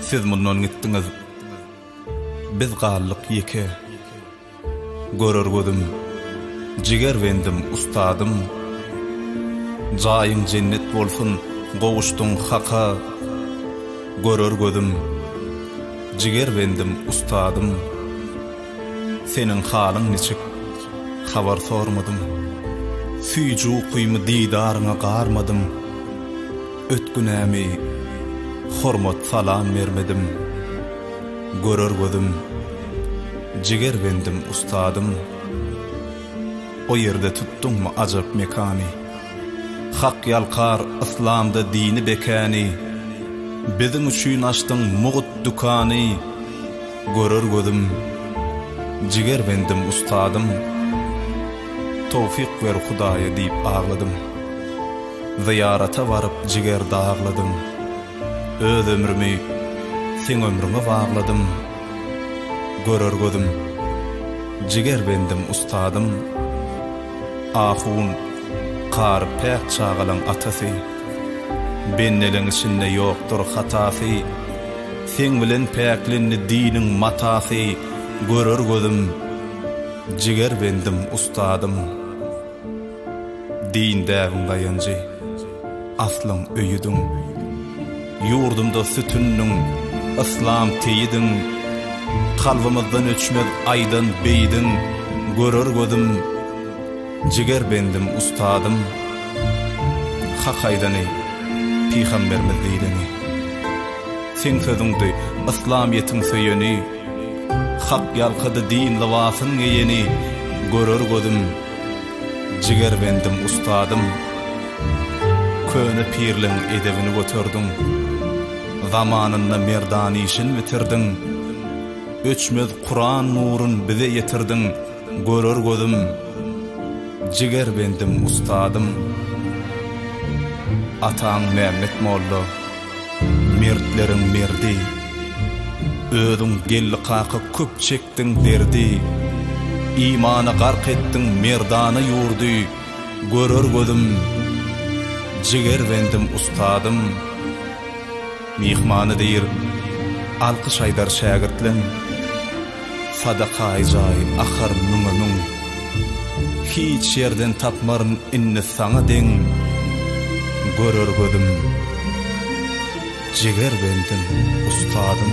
Siz mundan gitdiňiz, biz galdyk ýeke. Görer gözüm, jiger bendim, ustadym. Jaýyň jennet bolsun, gowuşdyň Haka. Görer gözüm, jiger bendim, ustadym. Seniň halyň niçik, habar sormadym. Süýji ukymy didaryňa garmadym. Ötgünämi, hormat-salam bermedim. Görer gözüm, jiger bendim, ustadym. O ýerde tutduňmy ajap mekany? Hak ýalkar yslamda dini bekäni. Biziň üçin açdyň mugt dükany. Görer gözüm, jigerbendim ustadym, Towfyk ber Hudaýa diýip agladym. Zyýarata baryp jiger dagladym, Öz ömrümi seň ömrüňe bagladym. Görer gözüm, jigerbendim ustadym, Ahun, kary päk çagalaň atasy, Bendeleň içinde ýokdur hatasy. Seň bilen päklendi diniň matasy görer gözüm Jiger bendim ustadym Din däbiň daýanjy aslyň öýüdiň Ýurdumda sütündiň yslam teýidiň Kalbymyzdan öçmez aýdan beýdiň görer gözüm Jiger bendim ustadym Hak aýdany pygambermiz diýleni. Seň sözüňdi yslamyýetiň söýeni, Hak ýalkady din lybasyn geýeni, Görer gözüm, jigerbendim, ustadym, Köne pirleň edebini göterdiň, Zamanynda merdan işin bitirdiň, Öçmez Kuran nurun bize ýetirdiň, Görer gözüm, jigerbendim, ustadym, Ataň Mämmet molla. Mertleriň merdi Özüň gelli kaka köp çekdiň derdi Imana gark etdiň merdana ýurdy Görer gözüm Jiger bendim ustadym Myhmany diýr Alkyş aýdar şägirtleň. Sadakaý jaý akar müňe-müň. Hiç ýerden tapmaryn indi saňa deň. Görer gözüm, jiger bendiň, ustadym.